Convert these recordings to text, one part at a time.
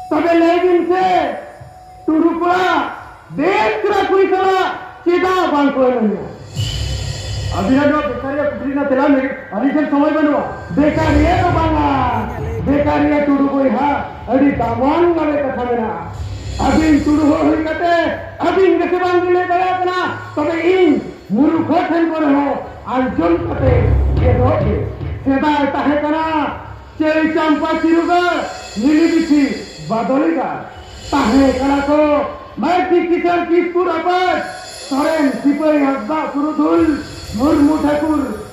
ᱛᱚᱵᱮ ᱞᱟᱹᱭ ᱵᱤᱱ ᱥᱮ ᱴᱩᱰᱩ ᱠᱚᱲᱟ ᱵᱮᱥ ᱠᱚᱲᱟ ᱠᱩᱲᱤ ᱥᱟᱞᱟᱜ ᱪᱮᱫᱟᱜ ᱵᱟᱝ ᱠᱚ ᱮᱱᱮᱡᱟ ᱟᱹᱵᱤᱱᱟᱜ ᱱᱚᱣᱟ ᱵᱮᱠᱟᱨᱤᱭᱟ ᱠᱩᱠᱞᱤ ᱨᱮᱱᱟᱜ ᱛᱮᱞᱟ ᱞᱟᱹᱜᱤᱫ ᱟᱹᱞᱤᱧ ᱴᱷᱮᱱ ᱥᱚᱢᱚᱭ ᱵᱟᱹᱱᱩᱜᱼᱟ ᱵᱮᱠᱟᱨᱤᱭᱟ ᱫᱚ ᱵᱟᱝᱟ ᱵᱮᱠᱟᱨᱤᱭᱟ ᱴᱩᱰᱩ ᱵᱚᱭᱦᱟ ᱟᱹᱰᱤ ᱫᱟᱢᱟᱱ ᱜᱟᱵᱮ ᱠᱟᱛᱷᱟ ᱢᱮᱱᱟᱜᱼᱟ ᱟᱹᱵᱤᱱ ᱴᱩᱰᱩ ᱦᱚᱲ ᱦᱩᱭ ᱠᱟᱛᱮ ᱟᱹᱵᱤᱱ ᱜᱮᱥᱮ ᱵᱟᱝ ᱵᱤᱱ ᱞᱟᱹᱭ ᱫᱟᱲᱮᱭᱟᱜ ᱠᱟᱱᱟ ᱛᱚᱵᱮ ᱤᱧ ᱜᱩᱨᱩ ᱠᱚ ᱴᱷᱮᱱ ᱠᱚᱨᱮ ᱦᱚᱸ ᱟᱨᱡᱚᱱ ᱠᱟᱛᱮ ᱜᱮ ᱫᱚᱦᱚ ᱜᱮ ᱥᱮᱫᱟᱭ ᱛᱟᱦᱮᱸ ᱠᱟᱱᱟ ᱪᱟᱹᱭ ᱪᱟᱢᱯᱟ ᱪᱤᱨᱩᱜᱟᱲ ᱱᱤᱞᱤᱵᱤᱪᱷᱤ ᱵᱟᱫᱚᱞᱤᱜᱟᱲ ᱛᱟᱦᱮᱸ ᱠᱟᱱᱟ ᱠᱚ ᱢᱟᱹᱨᱰᱤ ᱠᱤᱥᱟᱹᱬ ᱠᱤᱥᱠᱩ ᱨᱟᱯᱟᱡᱽ ᱥᱚᱨᱮᱱ ᱥᱤᱯᱟᱹᱭ ᱦᱟᱸᱥᱫᱟᱜ ᱯᱩᱨᱩᱫᱷᱩᱞ ᱢᱩᱨᱢᱩ ᱴᱷᱟᱹᱠᱩᱨ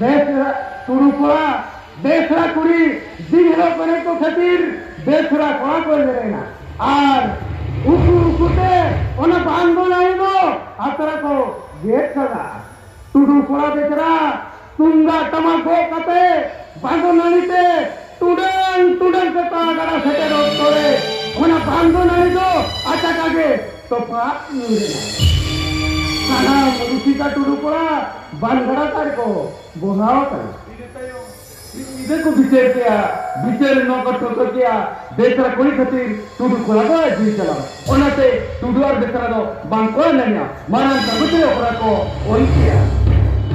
ᱵᱮᱥᱨᱟ ᱛᱩᱲᱩ ᱠᱚᱲᱟ ᱵᱮᱥᱨᱟ ᱠᱩᱲᱤ ᱫᱤᱜᱷᱨᱟ ᱯᱟᱨᱮ ᱠᱚ ᱠᱷᱟᱹᱛᱤᱨ ᱵᱮᱥᱨᱟ ᱠᱚᱲᱟ ᱠᱚ ᱮᱜᱮᱨᱮᱱᱟ ᱟᱨ ᱩᱠᱩ ᱩᱠᱩ ᱛᱮ ᱚᱱᱟ ᱵᱟᱱ ᱫᱚ ᱱᱟᱹᱭ ᱫᱚ ᱟᱛᱨᱟ ᱠᱚ ᱜᱮᱫ ᱠᱟᱫᱟ ᱴᱩᱰᱩ ᱠᱚᱲᱟ ᱵᱮᱥᱨᱟ ᱛᱩᱢᱫᱟᱜ ᱴᱟᱢᱟᱠ ᱜᱚᱜ ᱠᱟᱛᱮ ᱵᱟᱸᱫᱚ ᱱᱟᱹᱲᱤ ᱛᱮ ᱴᱩᱰᱟᱹᱝ ᱴᱩᱰᱟᱹᱝ ᱥᱮᱛᱟ ᱜᱟᱰᱟ ᱥᱮᱴᱮᱨ ᱚᱠᱛᱚ ᱨᱮ ᱚᱱᱟ ᱵᱟᱱᱫᱚ ᱱᱟᱹᱲᱤ ᱫᱚ ᱟᱪᱟᱠᱟ ᱜᱮ ᱛᱚᱯᱷᱟᱛ ᱧᱩᱨ ᱮᱱᱟ ᱥᱟᱱᱟᱢ ᱨᱩᱥᱤᱠᱟ ᱴᱩᱰᱩ ᱠᱚᱲᱟ ᱵᱟᱱᱜᱟᱲᱟ ᱛᱟᱨ ᱠᱚ ᱵᱚᱦᱟᱣ ᱟᱠᱟᱱᱟ ᱤᱱᱟᱹ ᱛᱟᱭᱚᱢ ᱢᱤᱫ ᱧᱤᱫᱟᱹ ᱠᱚ ᱵᱤᱪᱟᱹᱨ ᱠᱮᱜᱼᱟ ᱵᱤᱪᱟᱹᱨ ᱱᱚᱣᱟ ᱠᱚ ᱴᱷᱟᱹᱣᱠᱟᱹ ᱠᱮᱜᱼᱟ ᱵᱮᱥᱨᱟ ᱠᱩᱲᱤ ᱠᱷᱟᱹᱛᱤᱨ ᱴᱩᱰᱩ ᱠᱚᱲᱟ ᱫᱚ ᱟᱡ ᱡᱤᱣᱤ ᱪᱟᱞᱟᱣ ᱚᱱᱟᱛᱮ ᱴᱩᱰᱩ ᱟᱨ ᱵᱮᱥᱨᱟ ᱫᱚ ᱵᱟᱝ ᱠᱚ ᱮᱱᱮᱡᱼᱟ ᱢᱟᱨᱟᱝ ᱠᱟᱜᱚᱡᱽ ᱨᱮ ᱚᱠᱨᱟ ᱠᱚ ᱚᱞ ᱠᱮᱜᱼᱟ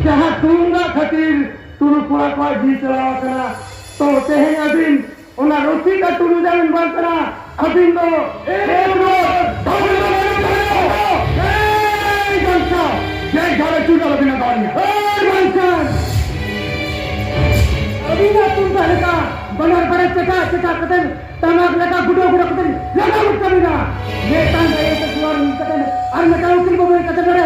ᱡᱟᱦᱟᱸ ᱛᱩᱢᱫᱟᱜ ᱠᱷᱟᱹᱛᱤᱨ ᱴᱩᱰᱩ ᱠᱚᱲᱟ ᱠᱚᱣᱟᱜ ᱡᱤᱣᱤ ᱪᱟᱞᱟᱣ ᱟᱠᱟᱱᱟ ᱛᱚ ᱛᱮᱦᱮᱧ ᱟᱹᱵᱤᱱ ᱚᱱᱟ ᱨᱚᱥᱤᱫ ᱟᱨ ᱴᱩᱰᱩ ᱡᱟᱢᱤᱱ ᱵᱟᱝ ᱠᱟᱱᱟ ᱟᱹᱵᱤᱱ ᱫᱚ ᱟᱹᱵᱤᱱᱟᱜ ᱛᱩᱢᱫᱟᱜ ᱞᱮᱠᱟ ᱵᱟᱱᱟᱨ ᱵᱟᱨᱮ ᱪᱮᱴᱟ ᱪᱮᱴᱟ ᱠᱟᱛᱮ ᱴᱟᱢᱟᱠ ᱞᱮᱠᱟ ᱜᱩᱰᱟᱹ ᱜᱩᱰᱟᱹ ᱠᱟᱛᱮ ᱞᱟᱜᱟᱣ ᱠᱟᱹᱢᱤᱱᱟ ᱢᱤᱫᱴᱟᱝ ᱫᱟᱭᱟ ᱠᱟᱛᱮ ᱟᱨ ᱢᱤᱫᱴᱟᱝ ᱩᱠᱤᱞ ᱵᱟᱹᱵᱩ ᱠᱟᱛᱮ ᱱᱚᱰᱮ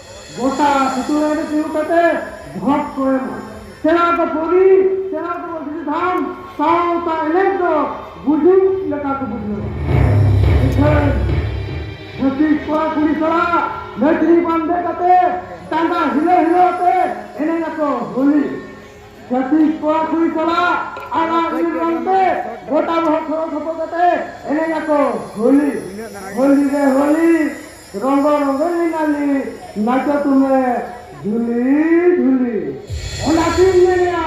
ᱜᱚᱴᱟ ᱥᱩᱛᱩᱨᱟᱭ ᱨᱮ ᱛᱤᱸᱜᱩ ᱠᱟᱛᱮ ᱵᱷᱚᱴ ᱠᱚ ᱮᱢᱟ᱾ ᱥᱮᱬᱟ ᱠᱚ ᱯᱷᱳᱱᱤ, ᱥᱮᱬᱟ ᱠᱚ ᱢᱟᱹᱥᱨᱤ ᱫᱷᱟᱱ, ᱥᱟᱶᱛᱟ ᱮᱱᱮᱡ ᱫᱚ ᱜᱩᱡᱩᱜ ᱞᱮᱠᱟ ᱠᱚ ᱵᱩᱡᱷᱟᱹᱣᱟ᱾ ᱤᱠᱷᱟᱹᱱ ᱪᱷᱟᱹᱛᱤᱠ ᱠᱚᱲᱟ ᱠᱩᱲᱤ ᱥᱟᱞᱟᱜ ᱱᱟᱹᱪᱱᱤ ᱵᱟᱱᱫᱮ ᱠᱟᱛᱮ ᱰᱟᱸᱰᱟ ᱦᱤᱞᱟᱹᱣ ᱦᱤᱞᱟᱹᱣ ᱟᱛᱮ ᱮᱱᱮᱡ ᱟᱠᱚ ᱦᱳᱞᱤ᱾ ᱪᱷᱟᱹᱛᱤᱠ ᱠᱚᱲᱟ ᱠᱩᱲᱤ ᱥᱟᱞᱟᱜ ᱟᱨᱟᱜ ᱱᱤᱞ ᱨᱚᱝ ᱛᱮ ᱜᱚᱴᱟ ᱵᱚᱦᱚᱜ ᱴᱷᱚᱲᱚ ᱴᱷᱚᱯᱚ ᱠᱟᱛᱮ ᱮᱱᱮᱡ ᱟᱠᱚ ᱦᱳᱞᱤ᱾ ᱦᱳᱞᱤ ᱨᱮ ᱦᱳᱞᱤ᱾ ᱨᱚᱝᱜᱚ ᱨᱚᱝᱜᱚ ᱞᱤᱱᱟᱞᱤ ᱱᱟᱪᱚ ᱛᱩᱢᱮ ᱡᱷᱩᱞᱤ ᱡᱷᱩᱞᱤ᱾ ᱚᱱᱟᱛᱤᱧ ᱢᱮᱱᱮᱜᱼᱟ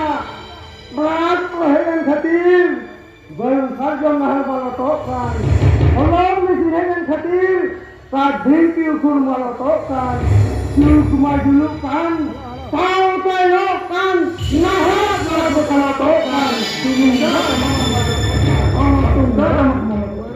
ᱢᱟᱴ ᱠᱚ ᱦᱮᱡ ᱮᱱ ᱠᱷᱟᱹᱛᱤᱨ ᱵᱟᱹᱨᱩ ᱥᱟᱨᱡᱚᱢ ᱱᱟᱦᱟᱨ ᱢᱟᱞᱚᱴᱚᱜ ᱠᱟᱱ᱾ ᱦᱚᱞᱚᱝ ᱢᱮᱥᱤᱱ ᱦᱮᱡ ᱮᱱ ᱠᱷᱟᱹᱛᱤᱨ ᱠᱟᱴ ᱰᱷᱤᱝᱠᱤ ᱩᱠᱷᱩᱲ ᱢᱟᱞᱚᱴᱚᱜ ᱠᱟᱱ᱾ ᱡᱩᱜᱽ ᱢᱟ ᱡᱩᱞᱩᱜ ᱠᱟᱱ ᱥᱟᱶᱛᱮᱭᱚᱜ ᱠᱟᱱ᱾ ᱱᱟᱦᱟᱜ ᱠᱚᱲᱟ ᱠᱚ ᱠᱟᱞᱚᱴᱚᱜ ᱠᱟᱱ᱾ ᱛᱩᱢᱫᱟᱜ ᱴᱟᱢᱟᱠ ᱢᱟᱞᱚᱴᱚᱜ ᱠᱟᱱ᱾ ᱚᱱᱟ ᱛᱩᱢᱫᱟᱜ ᱴᱟᱢᱟᱠ ᱢᱟᱞᱚᱴᱚᱜ ᱠᱟᱱ᱾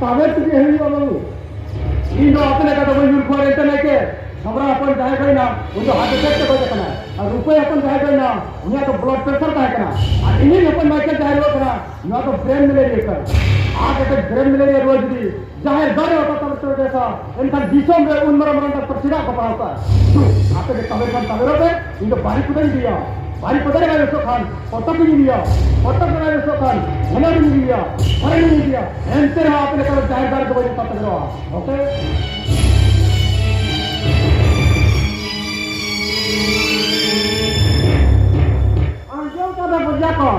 ᱛᱟᱵᱮᱨ ᱛᱮᱜᱮ ᱦᱩᱭᱩᱜᱼᱟ ᱵᱟᱹᱵᱩ ᱤᱧ ᱫᱚ ᱟᱯᱮ ᱞᱮᱠᱟ ᱫᱚ ᱵᱟᱹᱧ ᱧᱩᱨ ᱠᱚᱣᱟ ᱨᱮᱱᱴᱟ ᱞᱮᱠᱮ ᱥᱚᱢᱨᱟ ᱦᱚᱯᱚᱱ ᱡᱟᱦᱟᱸᱭ ᱜᱚᱭᱱᱟ ᱩᱱᱤ ᱫᱚ ᱦᱟᱨᱴ ᱮᱴᱮᱠ ᱛᱮ ᱜᱚᱡ ᱟᱠᱟᱱᱟ ᱟᱨ ᱨᱩᱯᱟᱹᱭ ᱦᱚᱯᱚᱱ ᱡᱟᱦᱟᱸᱭ ᱜᱚᱭᱱᱟ ᱩᱱᱤᱭᱟᱜ ᱫᱚ ᱵᱞᱚᱰ ᱯᱨᱮᱥᱟᱨ ᱛᱟᱦᱮᱸ ᱠᱟᱱᱟ ᱟᱨ ᱤᱧᱤᱧ ᱦᱚᱯᱚᱱ ᱢᱟᱭᱠᱮᱞ ᱡᱟᱦᱟᱸᱭ ᱨᱩᱣᱟᱹᱜ ᱠᱟᱱᱟ ᱱᱚᱣᱟ ᱫᱚ ᱵᱨᱮᱱ ᱢᱮᱞᱮᱨᱤᱭᱟ ᱠᱟᱱᱟ ᱦᱟᱨᱴ ᱮᱴᱮᱠ ᱵᱨᱮᱱ ᱢᱮᱞᱮᱨᱤᱭᱟ ᱨᱩᱣᱟᱹ ᱡᱩᱫᱤ ᱡᱟᱦᱟᱸᱭ ᱫᱟᱲᱮ ᱚᱠᱟ ᱛᱟᱵᱮᱨ ᱛᱮ ᱵᱮᱥᱟ ᱮᱱᱠᱷᱟᱱ ᱫᱤᱥᱚᱢ ᱨᱮ ᱩᱱ ᱢᱟᱨᱟᱝ ᱢᱟᱨᱟᱝ ᱰᱟᱠᱛᱚᱨ ᱪᱮᱫᱟᱜ ᱠᱚ ᱯᱟᱲᱦᱟᱣ ᱠᱟᱜᱼᱟ ᱫᱩ ᱟᱯᱮ ᱜᱮ ᱛᱟᱵᱮᱨ ᱠᱷᱟᱱ ᱛᱟᱵᱮᱨᱚᱜ ᱯᱮ ᱤᱧ ᱫᱚ ᱵᱟᱨᱤ ᱠᱚᱫᱚᱧ ᱤᱫᱤᱭᱟ ᱵᱟᱨᱤ ᱠᱚᱫᱚ ᱨᱮ ᱵᱟᱭ ᱵᱮᱥᱚᱜ ᱠᱷᱟᱱ ᱯᱚᱛᱚᱵ ᱤᱧ ᱤᱫᱤᱭᱟ ᱯᱚᱛᱚᱵ ᱨᱮ ᱵᱟᱭ ᱵᱮᱥᱚᱜ ᱠᱷᱟᱱ ᱦᱮᱞᱮᱱ ᱤᱧ ᱤᱫᱤᱭᱟ ᱦᱮᱞᱮᱱ ᱤᱧ ᱤᱫᱤᱭᱟ ᱮᱱᱛᱮ ᱨᱮᱦᱚᱸ ᱟᱯᱮ ᱞᱮᱠᱟ ᱡᱟᱦᱮᱨ ᱫᱟᱨᱮ ᱫᱚ ᱵᱟᱹᱧ ᱛᱟᱵᱮᱨᱚᱜᱼᱟ ᱳᱠᱮ ᱟᱸᱡᱚᱢ ᱠᱟᱫᱟ ᱵᱚᱡᱟ ᱠᱚ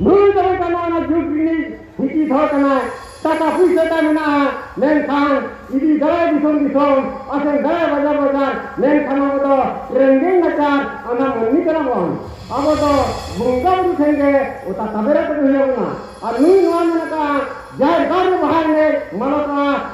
ᱱᱩᱭ ᱫᱚ ᱠᱟᱱᱟ ᱚᱱᱟ ᱡᱩᱜᱽ ᱨᱤᱱᱤᱡ ᱤᱫᱤ ᱫᱚᱦᱚ ᱠᱟᱱᱟᱭ ᱴᱟᱠᱟ ᱯᱩᱭᱥᱟᱹ ᱛᱟᱭ ᱢᱮᱱᱟᱜᱼᱟ ᱢᱮᱱᱠᱷᱟᱱ ᱤᱫᱤ ᱫᱟᱨᱟᱭ ᱫᱤᱥᱚᱢ ᱫᱤᱥᱚᱢ ᱟᱥᱮᱱ ᱫᱟᱨᱟᱭ ᱵᱟᱡᱟᱨ ᱵᱟᱡᱟᱨ ᱢᱮᱱᱠᱷᱟᱱ ᱟᱵᱚ ᱫᱚ ᱨᱮᱸᱜᱮᱡ ᱱᱟᱪᱟᱨ ᱟᱱᱟ ᱢᱟᱹᱱᱢᱤ ᱠᱟᱱᱟ ᱵᱚᱱ ᱟᱵᱚ ᱫᱚ ᱵᱚᱸᱜᱟ ᱵᱩᱨᱩ ᱴᱷᱮᱱ ᱜᱮ ᱚᱛᱟ ᱛᱟᱵᱮᱨ ᱠᱟᱛᱮ ᱦᱩᱭ ᱟᱵᱚᱱᱟ ᱟᱨ ᱱᱩᱭ ᱱᱚᱣᱟ ᱢᱮᱱ ᱟᱠᱟᱫᱼᱟ ᱡᱟᱦᱮᱨ ᱜᱟᱲ ᱨᱮ ᱵᱟᱦᱟ ᱮᱱᱮᱡ ᱢᱟᱞᱚᱴᱚᱜᱼᱟ